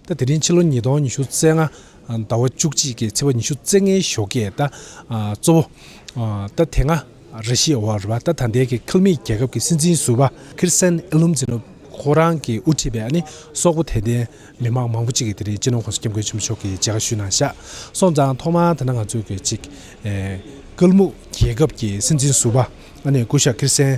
ཟླ་དེ་རིང་ཕྱི་ལོ་ཉིས་སྟོང་ཉི་ཤུ་རྩེ་ལྔ་ཟླ་བ་བཅུ་གཅིག་གི་ཚེས་པ་ཉི་ཤུ་རྩེ་ལྔའི་ཞོགས་ཀྱི་ཟླ་གཙོ་བོ། ཟླ་དེ་སྔ་རེ་ཤི་ཨོ་ཝར་བ་ད་ད་ལྟའི་གི་ཁལ་མིད་རྒྱལ་ཁབ་ཀྱི་སྲིད་འཛིན་ཟུར་བ། ཁིར་སན་ཨེ་ལུམ་ཛི་ནོབ་ཁོ་རང་གི་དབུ་ཁྲིད་པའི་ནི་སོག་པོ་དད་ལྡན་མི་དམངས་མང་པོ་གཅིག་གི་དེ་རིང་སྤྱི་ནོར་ཁོངས་སུ་སྐྱབས་མགོན་ཆེན་པོ་མཆོག་གི་མཇལ་ཁ་ཞུས་གནང་ཤག་སོང་ཙང་ཐོག་མར་ད་ནང་ང་ཚོ་གི་ཅིག་ཀལ་མུག་རྒྱལ་ཁབ་ཀྱི་སྲིད་འཛིན་ཟུར་བ་ཨ་ནི་སྐུ་ཞབས་ཁིར་སན་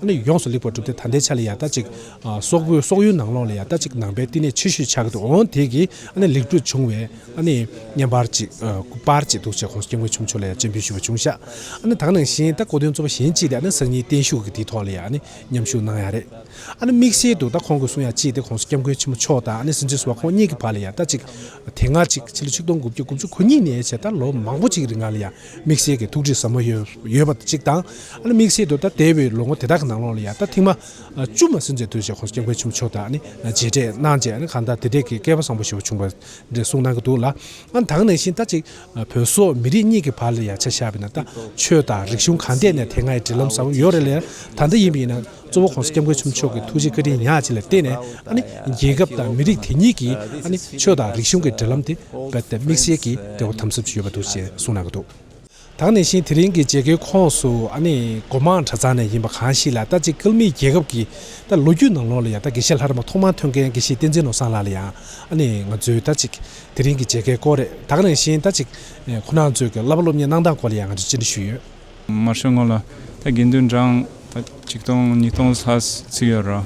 ཨ་ནི་ཡོངས་སུ་ལེགས་པར་གྲུབ་སྟེ་ད་ལྟའི་ཆ་ལ་ཡང་ལྟ་ཅིག། སོག་པོའི་སོག་ཡུལ་ནང་ལོགས་ལ་ཡང་ལྟ་ཅིག་ནང་པའི་བསྟི་གནས་ཆེ་ཤོས་ཆགས་ཀྱི་འདུག་འོན་ཏེ་གིས་ཨ་ནི་ལེགས་གྲུབ་བྱུང་བས་ཨ་ནི་བསྙེན་པར་ཅིག་སྐུ་པར་ཅིག་འདུག་ཅེས་ཁོང་སྐྱབས་མགོན་ཆུང་མཆོག་ལ་ཡང་སྤྱན་འབུལ་ཞུས་པ་བྱུང་ཤག་ཨ་ནི་དག་ནང་བཞིན་ད་གོ་དོན་རྩོམ་པ་གཞན་གཅིག་ལས་ཨ་ནི་གསང་སྙིང་བརྟན་བཞུགས་ཀྱི་དེའི་ཐོག་ལ་ཡང་ཨ་ནི་མཉམ་ཞུགས་གནང་ཡག་རེད་ཨ་ནི་དམིགས་བསལ་དུ་ད་ཁོང་གི་གསུང་ཡང་ཅིག་སྟེ་ཁོང་སྐྱབས་མགོན་ཆེན་མོ་མཆོག་དང་ཨ་ནི་སེང་ཆེན་བཟོ་བ་ཁོང་གཉིས་ཀྱི་བར་ལ་ཡང་ལྟ་ཅིག་དེ་སྔ་ཅིག་ཕྱི་ལོ་ཆིག་སྟོང་དགུ་བརྒྱ་དགུ་བཅུ་གོ་གཉིས་ནས་ཕྱེད་ད་ལོ་མང་པོ་ཅིག་རིང་ལ་ཡང། དམིགས་བསལ་གྱི་ཐུགས་ཁྲེལ་ཟབ་མོ་ཡོད་པ་གཅིག་དང། དམིགས་བསལ་དུ་ད་ལྟའི་བའི་ལོ་ངོ་དེ་དག་གི་ནང་ལོགས་ལ་ཡང་ད་ཐེངས་མ་བཅུ་མ་ཟིན་ཚེ་དུས་བཞིན་ཁོང་སྐྱབས་མགོན་ཆེན་པོ་མཆོག་དང་ནི་མཇལ་འཕྲད་གནང་རྗེས་གང་ལྟར་དེ་འབྲེལ་གྱི་སྐལ་པ་བཟང་པོ་ཞུ་བ་བྱུང་བ་འདྲེ་གསུངས་གནང་གི་འདུག་ལ། དང་ནང་བཞིན་ད་ཅིག་བོད་སོག་མི་རིགས་གཉིས་ཀྱི་བར་ལ་ཡང་ཆ་བཞག་པའི་ནང་ད་ཆོས་དང་རིག་གཞུང་གང་ཐད་ནས་དེ་སྔའི་འབྲེལ་ལམ་བཟང་པོ་ཡོད་རེད་ལ་ད་ལྟ་ཡིན་པའི་ཡིན་ན། གཙོ་བོ ྋགོང་ས ྋསྐྱབས་མགོན་ཆེན་པོ་མཆོག་གི་ཐུགས་རྗེ་བཀའ་དྲིན་ཉག་ཅིག་ལ་བརྟེན་ནས་རྒྱལ་ཁབ་དང་མི་རིགས་དེ་ཉིད་ཀྱིས་ཆོས་དང་རིག་གཞུང་གི་འབྲེལ་ལམ་དེ་དམིགས་བསལ་གྱི་འབྲེལ་བ་དམ་ཟབ་ཅིག་ཡོད་པ་འདུག་ཅེས་གསུངས་གནང་གི་འདུག་དང་ནས་བཞིན་དེ་རིང་གི་མཇལ་ཁའི་ཁོངས་སུ་སྒོ་མང་གྲྭ་ཚང་ནས་ཡིན་པ་གང་ཞིག་ལ་ལྟ་ཅི་ཀལ་མིའི་རྒྱལ་ཁབ་ཀྱི་ལོ་རྒྱུས་ནང་ལོགས་ལ་ཡང་དགེ་བཤེས་ལྷ་རམས་པ་ཐོག་མར་ཐོན་མཁན་དགེ་བཤེས་བསྟན་འཛིན་ནོར་བཟང་ལགས་ལ་ཡང་ང་ཚོས་ལྟ་ཅི་དེ་རིང་གི་མཇལ་ཁའི་སྐོར་རེད་དང་ནས་བཞིན་ལྟ་ཅི་ཁོ་ན་ཚོས་ཀྱི་བསླབ་པ་སློབ་གཉེར་གནང་སྟངས་སྐོར་ལ་ཡང་ང་ཚོས་སྤྱི་འདྲི་ཞུས་ཡོད། མར་ཤོག་ངོ་ལ་ད་དགེ་འདུན་གྲངས་ད་ཆིག་སྟོང་ཉིས་སྟོང་ལྷག་ཚུད་ཡོད་རོ།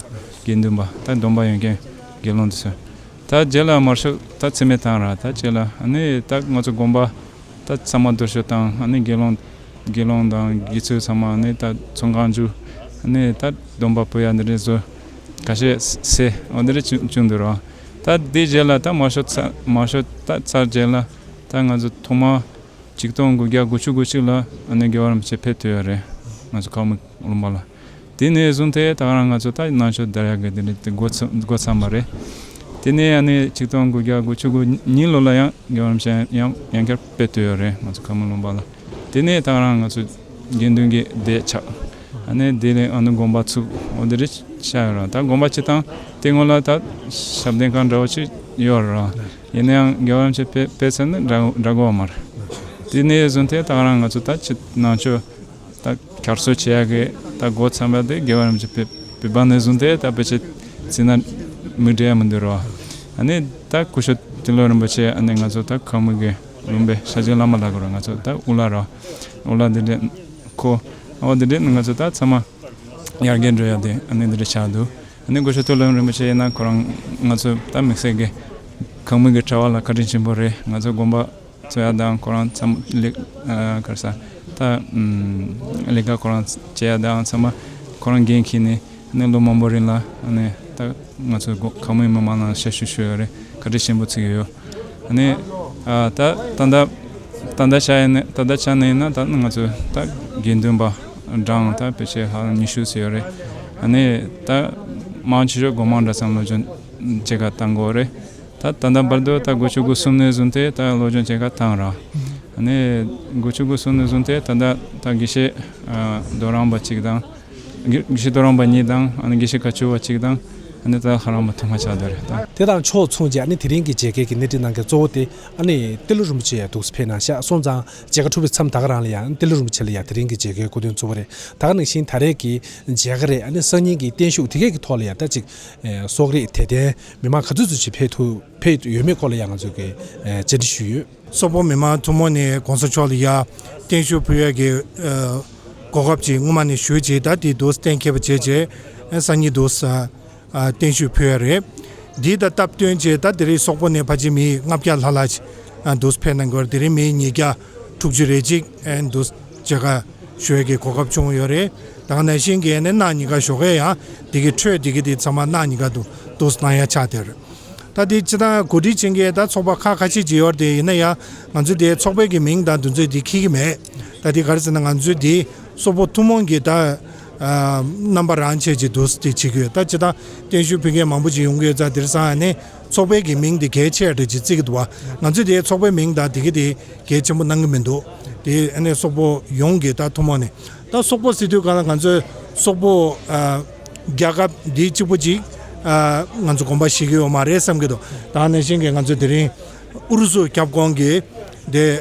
དགེ་འདུན་པ་ད་སྡོམ་པ་ཡོན་མཁན་དགེ་སློང་དུ་སོད་ད་བརྒྱད་ལ་མར་ཤོག་ད་ཚེ་མེ་དང་ར་ད་བཅས་ལ་ནི་ད་ང་ཚོ་དགོན་པ་ད་ཚང་མ་དུར་ཤོད་དང་ནི་དགེ་སློང་དགེ་སློང་དང་དགེ་ཚུལ་ཚང་མ་ནི་ད་ཚོང་ཁང་བཅུ་ནི་ད་སྡོམ་པ་པོ་ཡ་འདི་འདྲའི་བཟོ་ག་ཤས་སེ་འོ་འདི་འདྲའི་བཅུ་འདུག་རོ། ད་དེ་བརྒྱད་ལ་ད་མར་ཤོག་མར་ཤོག་ད་ཚར་བརྒྱད་ལ་ད་ང་ཚོ་ཐོག་མར་ཆིག་སྟོང་དགུ་བརྒྱ་དགུ་ཅུ་དགུ་གཅིག་ལ་ཨ་ནེ་དགེ་བ་རིན་པོ་ཆེ་ཕེབས་ཐུབ་ཡོད་རེད་ང་ཚོ་ཁག་མི་རློམ་པ་ལ། དེ་ནས་བཟུང་སྟེ་ད་རང་ང་ཚོ་ལྟ་ནང་ཆོས་དར་ཡག་གི་དེ་འདྲ་འགོ་ཚང་མ་རེད། དེ་ནས་ཨ་ནེ་ཆིག་སྟོང་དགུ་བརྒྱ་དགུ་ཅུ་དགུ་གཉིས་ལོ་ལ་ཡང་དགེ་བ་རིན་པོ་ཆེ་ཡང་བསྐྱར་ཕེབས་ཐུབ་ཡོད་རེད་ང་ཚོ་ཁག་མི་རློམ་པ་ལ། དེ་ནས་ད་རང་ང་ཚོ་དགེ་འདུན་གྱི་སྡེ་ཆགས་ཨ་ནེ་བདེ་ལེགས་ཨ་ནུ་དགོན་པ་ཚུགས་འོ་དེ་རེད་ཤག་ཡོད་རང་ད་དགོན་པ་སྤྱི་བཏང་དེ་སྔོན་ལ་ད་ཞབས་བརྟན་ཁང་འདྲ་བོ་ཅིག་ཡོད་རེད་རང། ཡིན་ན་ཡང་རྒྱལ་བ་རིན་ཆེན་དཔལ་ཚད་ནི་འདྲ་གོ་མར། དེ་ནས་བཟུང་སྟེ་ཐག་རིང་ང་ཚོ་ད་ཕྱི་ནང་ཆོས་ད་གར་སོ་བྱེད་ཡག་གི་ད་མགོ་ཚན་པ་དེ་རྒྱལ་བ་རིན་ཆེན་དཔལ་ནས་བཟུང་སྟེ་ད་ཕི་ཕྱི་ཚིག་ན་མི་འདྲ་མི་འདུར་བ་ནི་ད་སྐུ་ཞོ་ཏི་ལོ་རིན་པོ་ཆེ་ནི་ང་ཚོ་ད་ཁག་མི་གི་བླུན་པའི་ཤ་ཆེན་བླ་མ་ལགས་གོ་ར་ང་ཚོ་ད་དབུ་ལ་རོ་དབུ་ལ་དེ་འདྲས་ཁོ་ཨ་བ་དེ་འདྲས་ནི་ང་ཚོ་ད་ཚང་མ་ཡར་རྒྱས་འགྲོ་ཡག་དེ་ནི་འདྲས་ཆགས་འདུག། ནས་སྒོ་ཕྱུགས་ཐུགས་ལམ་རིན་པོ་ཆེ་ཡིན་ན་ཁོ་རང་ང་ཚོས་ད་མི་ཟེར་གི། གང་མིན་གྱི་གྲྭ་བ་ལ་བཀའ་དྲིན་ཆེན་པོ་རེད་ང་ཚོའི་དགོན་པ་གཙོས་ཡག་དང་ཁོ་རང་ཚང་གར་ས་ད་ལས་ཀ་ཁོ་རང་བྱེད་ཡག་དང་ཚང་མ་ཁོ་རང་འགན་འཁྱེར་ནས་ནས་ལོ་མང་པོ་རིང་ལ་ནས་ད་ང་ཚོའི་གང་མིན་མི་མང་ལ་ཞབས་ཞུ་ཞུ་ཡག་རེད་བཀའ་དྲིན་ཆེན་པོ་ཚིག་ཡོད་ནས་ད་ད་ད་ད་ད་ཆ་ནས་ཡིན་ན་ད་ང་ཚོའི་ད་དགེ་འདུན་པ། འབྲང་དང་བེད་སྤྱད་ལྷག་ཉི་ཤུ་ཟེར་ཡོད་རེད། ད་ནས་ད། དམངས་ཕྱི་ཕྱོགས་སྒོ་མང་འདྲ་ཙམ་བློ་སྦྱོང་བྱེད་ཁ་བཏང་དགོས་རེད། ད་ད་ལྟ་བར་དུ་ད་དགུ་བཅུ་དགུ་གསུམ་ནས་བཟུང་སྟེ་ད་བློ་སྦྱོང་བྱེད་ཁ་བཏང་ར། ད་ནས་དགུ་བཅུ་དགུ་གསུམ་ནས་བཟུང་སྟེ་ད་ལྟ་ད་དགེ་བཤེས་རྡོ་རམས་པ་གཅིག་དང། དགེ་བཤེས་རྡོ་རམས་པ་གཉིས་དང་ཨ་ནི་དགེ་བཤེས་ཁ་བཅུ་བ་གཅིག་དང་ཨ་ནི་ད་ལྷ་རམས་པ་དུ་མ་ཆགས་འདུག་རེད་ད། དེ་དང་ཕྱོགས་མཚུངས་ཀྱིས་ཨ་ནི་དེ་རིང་གི་མཇལ་ཁའི་གི་སྣེ་ཁྲིད་གནང་མཁན་གཙོ་བོ་སྟེ་ཨ་ནི་ཏེ་ལོ་རིན་པོ་ཆེ་ཡ་འདུག་སི་ཕེ་ན་ཤག་སོང་ཙང། མཇལ་ཁ་འཁྲུ་བའི་མཚམས་ད་ག་རང་ལ་ཡང་ཏེ་ལི་རིན་པོ་ཆེ་ལ་ཡང་དེ་རིང་གི་མཇལ་ཁའི་སྐུ་དོན་གཙོ་བོ་རེད་ད་ག་ནང་བཞིན་ད་རེས་ཀྱི་མཇལ་ཁ་རེད་ཨ་ནི་སང་ཉིན་གྱི་བརྟན་བཞུགས་དེ་གས་ཀྱི་ཐོག་ལ་ཡང་ད་ཅིག་གསོག་རེད་དད་ལྡན་མི་མང་ག་ཚོད་ཚོད་ཅིག་ཕེབས་ཐུབ་ཕེབས་ཡོད་མེད་སྐོར་ལ་ཡང་ང་ཚོས་ཀྱི་བཅར་འདྲི་ཞུས་ཡོད། སོག་པོ་མི་མང་ཐུང་མོ་ནས་གོང་ས་མཆོག་ལ་ཡང་བརྟན་བཞུགས་ཕུལ་ཡས་ཀྱི་གོ་སྐབས་ཅིག་སྔོན་མ་ནས་ཞུས་རྗེས་ད་དེ་འདུག་གཏན་ཁེལ་བ་བྱས་རྗེས་སང་ཉིན་འདུག། བརྟན་ཞུ་ཕུལ་བ་རེད། འདི་ལྟར་སྟབས་བསྟུན་རྗེས་ད་དེ་རིང་སོག་པོ་ནས་ཕ་ཆེ་མི་ལྔ་བརྒྱ་ལྷག་ལ་འདུས་ཕེབས་གནང་སྐོར་དེ་རིང་མི་ཉིས་བརྒྱ་དྲུག་ཅུ་རེ་གཅིག་འདུས་བྱས་ཁ་ཤོས་ཀྱི་གོ་སྐབས་བྱུང་ཡོད་རེད། དང་ནས་ཤིང་གེ་ནས་གནའ་ཉི་ག་ཞོགས་ཀས་ཡང་དེ་གི་ཁྲོད་དེ་གི་དེ་ཚང་མ་གནའ་ཉི་ག་དུ་འདུས་གནང་ཡ་ཆགས་དེར། ད་དེ་སྤྱི་དང་གོ་སྒྲིག་བྱེད་མཁན་ད་ཚོགས་པ་ཁག་ཁ་ཤས་ཀྱི་ཡོད་རེད་ཡིན་ན་ཡང་ང་ཚོའི་དེ་ཚོགས་པའི་གི་མིང་དང་དུས་ཚོད་དེ་ཁྱི་གི་མེད། ད་དེ་ག་རེ་ཟེར་ན་ང་ཚོའི་དེ་སོག་པོ་ཐུང་མོང་གི་ད་རྣམ་པ་རང་ཆས་ཀྱི་འདུ་ཤེས་ཤིག་ཡོད་ད་ཇི་ལྟར་བརྟེན་གཞོན་ཕུད་མཁན་མང་པོ་ཞིག་ཡོང་གི་ཡོད་ཚ་དེར་སང་ནས་ཚོགས་པའི་གི་མིང་དེ་གལ་ཆེ་རེད་ཅེས་བརྩི་གི་འདུག་བ་ང་ཚོས་དེ་ཚོགས་པའི་མིང་དང་དེ་གི་དེ་གལ་ཆེན་པོ་གནང་གི་མི་འདུག་དེ་ནས་སོག་པོ་ཡོང་གི་ད་ཐུང་མོང་ནས་ད་སོག་པོ་སི་དུས་གང་ལ་ང་ཚོས་སོག་པོ་རྒྱལ་ཁབ་འདི་གཅིག་པོ་ཅིག་ང་ཚོ་གོམ་པ་ཞིག་གི་ཡོད་མ་རེད་བསམ་གི་འདུག་ད་ནས་བཞིན་གི་ང་ཚོས་དེ་རིང་ཨུ་རུ་སུ་ཁྱབ་ཁོང་གི་དེ།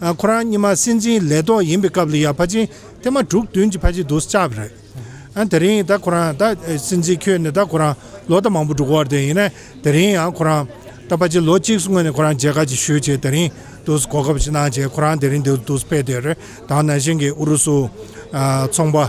ཁོ་རང་གཉིས་མ་སྲིད་འཛིན་ལས་ཐོག་ཡིན་པའི་སྐབས་ལ་ཡར་ཕ་ཆིན་ཐེ་མ་དྲུག་བདུན་གྱི་ཕ་ཆིན་དུ་སྐྱབས་རེད། དེ་རིང་ད་ཁོ་རང་ད་སྲིད་འཛིན་ཁྱོད་ནས་ད་ཁོ་རང་ལོ་ད་མང་པོ་འགྲོ་གི་བར་དེ་ཡིན་ནས་དེ་རིང་ཡང་ཁོ་རང་ད་ཕ་ཆིན་ལོ་གཅིག་སུ་སྔོན་ནས་ཁོ་རང་མཇལ་ཁ་ཅིག་ཞུས་བྱས་དེ་རིང་དུ་གོ་སྐབས་ཞིག་གནང་བྱས་ཁོ་རང་དེ་རིང་འདིར་དུ་ཕེབས་དེ་རེད་དང་ན་གཞན་གྱི་ཨུ་རུ་སུ་ཚོང་པ།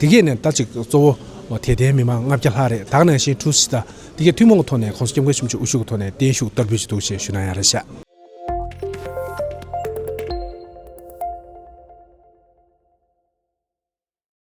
དེ་གས་ནས་ད་ཅིག་གཙོ་བོ་དད་ལྡན་མི་མང་ལྔ་བརྒྱ་ལྷག་རེད་དག་ནང་བཞིན་ཁྲུའུ་སི་ད་དེ་གས་ཐུན་མོང་གི་ཐོག་ནས་ཁོང་སྐྱབས་མགོན་ཆེན་པོ་ཆོས་དབུ་ཤུག་གི་ཐོག་ནས་བརྟན་བཞུགས་བསྟར་འབུལ་གྱི་འདུག་ཞེས་ཞུས་ན་ཡང་རེད་བཤད།